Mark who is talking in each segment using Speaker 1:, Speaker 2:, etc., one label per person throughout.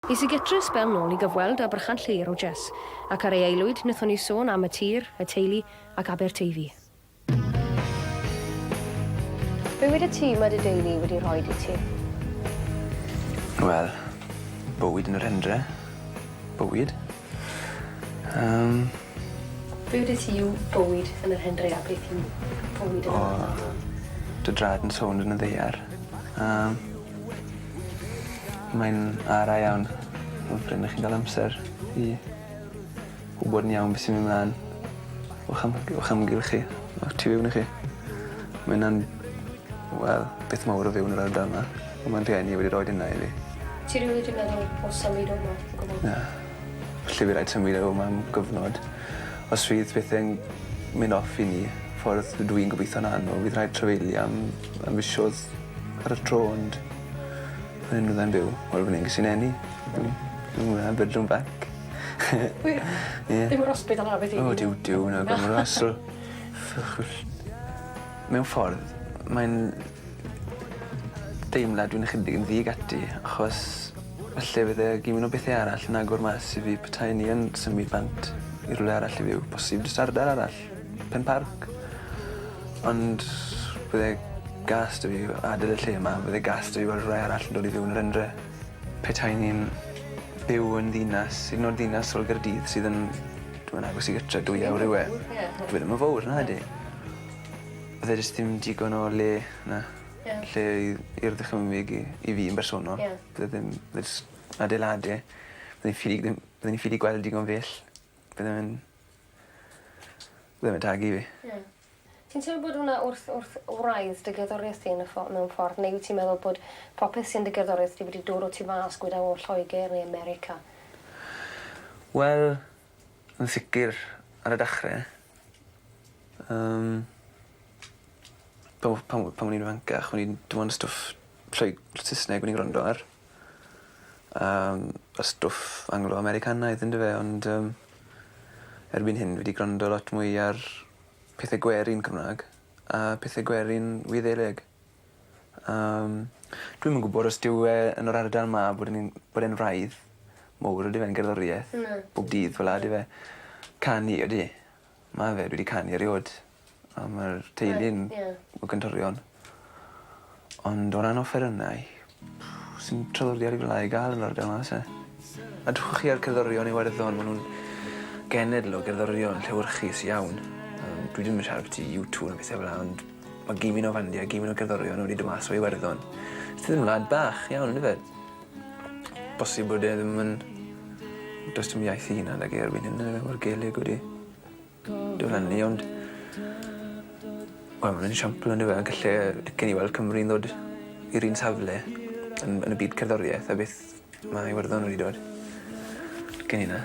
Speaker 1: Es i gytre sbel nôl i gyfweld â Brychan Lleir o Jess, ac ar ei aelwyd wnaethon ni sôn am y tir, y teulu, ac Aberteifi. Bywyd y tŷ mae dy deulu wedi rhoi i ti? Wel,
Speaker 2: bywyd yn yr hendre. Bywyd. Yym.
Speaker 1: Bywyd y tŷ yw bywyd yn yr hendre a beth yw bywyd yn yr ardal? O, dy draed
Speaker 2: yn sownd yn y ddaear. Yym. Mae'n ara iawn ond pryd 'ych chi'n ga'l amser i wbod yn iawn be' sy'n myn' mlan o'ch am- o'ch amgylch chi a tu fewn i chi ma' ynna'n wel beth mawr o fyw yn yr ardal 'ma on' ma'n rhieni wedi roid ynna i fi. Ti rili 'di meddwl
Speaker 1: o symud o 'ma o gwbwl? Na.
Speaker 2: Falle by' raid symud o 'ma am gyfnod. Os fydd pethe'n myn' off i ni ffordd dw i'n gobitho'n anwl fydd rhaid trafeili am Mae'n fisodd ar y tro ond o'n i'n fyddai'n byw wel fy nghysi neni. Hmm. Dim mwy na bedroom back.
Speaker 1: Ie? Ie. Dim yr ospital na be' ti'n... O Duw Duw na gormod
Speaker 2: o asl. Ffychwll. Mewn ffordd mae'n deimlad dwi'n ychydig yn ddig ati achos falle fydd e gin mwy o bethe arall yn agor mas i fi petai ni yn symud bant i rwle arall i fyw bosib jyst ardal arall. Penparc ond bydd e gas 'da fi adel y lle 'ma bydd e gas 'da fi weld rhai arall yn dod i fyw yn yr Hendre. Petai ni'n byw yn ddinas hyd yn o'd ddinas fel Gaerdydd sydd yn dwi me'wl agos i gytre dwy awr yw e. Dyw e ddim yn fowr nadi? Bydd e jyst dim digon o le 'na. Ie. Lle i i'r ddychymyg i i fi yn bersonol. Ie. Bydd e ddim jys adeiladu. Bydd e'n ffug ddim byddwn i ffili gweld digon bell. Byddwn yn byddwn yn tagu fi. Ie. Ti'n teimlo bod
Speaker 1: wnna wrth wrth wraidd dy gerddorieth di yn y ffo- mewn ffordd neu wyt ti'n meddwl bod popeth sy'n dy gerddoriaeth di wedi dod o tu fas gwydau o Lloeger neu America?
Speaker 2: Wel yn sicir ar y dechre yym pan o- pan o- pan o'n i'n ifancach o'n i'n dim ond stwff Lloeg- Sysneg o'n i'n grando ar. Yym y stwff Anglo Americanaidd yndyfe ond yym erbyn hyn fi 'di grando lot mwy ar pethe gwerin Cymra'g a pethe gwerin Wyddeleg. Yym dwi'm yn gwbod os dyw e yn yr ardal 'ma bod yn un bod e'n wraidd mowr ydyw e'n gerddorieth... Na. ...bob dydd fel 'a ydyw e? Canu ydi. Ma' fe dwi 'di canu eriôd a ma'r teulu'n... Reit ie. ...o Gyntorion. Ond o ran offerynnau sdim traddodiad fel 'a i ga'l yn yr ardal 'ma o's e? A dwchwch chi a'r cerddorion Iwerddon ma' nw'n genedl o gerddorion llewyrchus iawn yym dwi ddim yn siarad abyti U two na bethe fel 'a ond ma' gimyn o fandiau gimyn o gerddorion wedi do' mas o Iwerddon. Sydd yn wlad bach iawn on'd yfe? Bosib bod e ddim yn... Does dim iaith 'i hunan 'da fi erbyn hyn yndyfe mor Gaeleg wedi diflannu ond wel ma'n esiampl on'd yfe a galle yy dicen i weld Cymru'n ddod i'r un safle yn yn y byd cerddorieth a beth ma' Iwerddon wedi dod gen i 'na.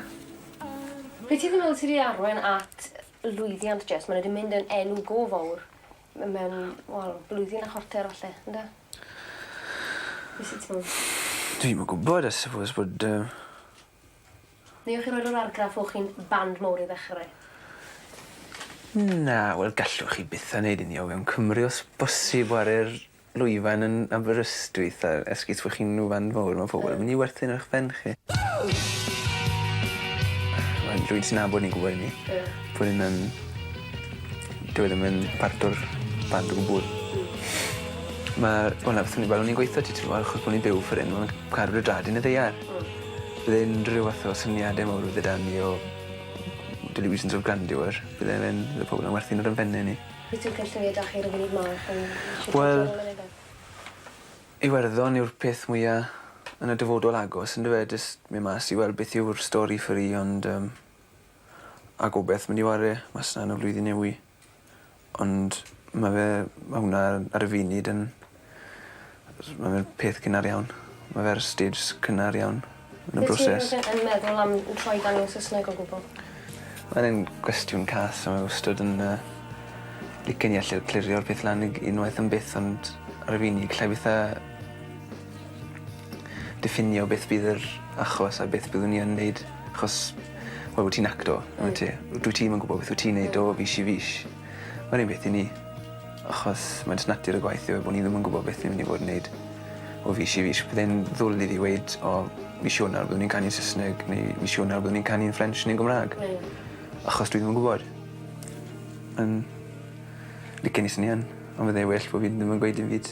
Speaker 2: Be'
Speaker 1: ti'n meddwl sy 'di arwain at lwyddiant Jess ma' n'w 'di mynd yn enw go fowr M- mewn wel blwyddyn a chwarter falle ynde? Be' sy t'me'wl? Dwi'm yn gwbod
Speaker 2: I suppose bod yy...
Speaker 1: Neu o' chi roid yr argraff o' chi'n band mowr i ddechre? Na
Speaker 2: wel gallwch chi byth a neud ynny o fewn Cymru os bosib 'ware'r Lwyfan yn Aberystwyth a esgus fo' chi'n lwyfan fowr ma' pobol yn myn' i werthin ar 'ych ben chi. Wel rwy'n ti nabod ni'n gwbod 'yn ni. Ie. Bo' hyn yn dyw e ddim yn part o'r band o gwbwl. Hmm. Ma'r wel na beth o'n i fel o'n i'n gweitho ti t'mod achos bo' ni'n byw ffor 'yn ma' car gyda dad yn y ddaear. Hmm. Bydd e'n rhyw fath o syniade mowr o fyd 'da ni o delusions of grandeur bydde fe'n bydde pobol yn werthin ar 'yn benne ni.
Speaker 1: Wyt ti'n ffit dywedach chi
Speaker 2: rywbryd ma ac yn shwt ti'n torri mynyddau? Wel Iwerddon yw'r peth mwya yn y dyfodol agos on'd yfe jys myn mas i weld beth yw'r stori ffyri ond yym a gobeth mynd i ware mas 'na yn y flwyddyn newy ond ma' fe ma' hwnna ar y funud yn S- ma' fe'n peth cynnar iawn. Ma' fe ar y stij s- cynnar iawn yn y broses. Wyt ti yn
Speaker 1: meddwl am n- troi i ganu yn Sysneg o gwbwl? Ma'n
Speaker 2: un gwestiwn cas a mae wastod yn yy licen i alle clirio'r peth lan i g- unwaith am byth ond ar y funud 'llai byth â diffinio beth bydd yr achos a beth byddwn i yn neud achos wel wyt ti'n actor on'd wyt ti? Dwyt ti'm yn gwbod beth wyt ti'n neud o fis i fis. Mae'n rhy beth i ni, achos mae jyst natur y gwaith yw e bod ni ddim yn gwybod beth ni'n mynd i fod yn neud o fis i fis. Byddai'n ddwl i fi weud o mis Ionawr byddwn ni'n canu'n Sysneg neu mis Ionawr byddwn ni'n canu'n Ffrench neu'n Gymra'g. Hmm. Achos dwi ddim yn gwybod. Yn licen i swnio yn ond fyddai well bo' fi ddim yn gweud dim byd.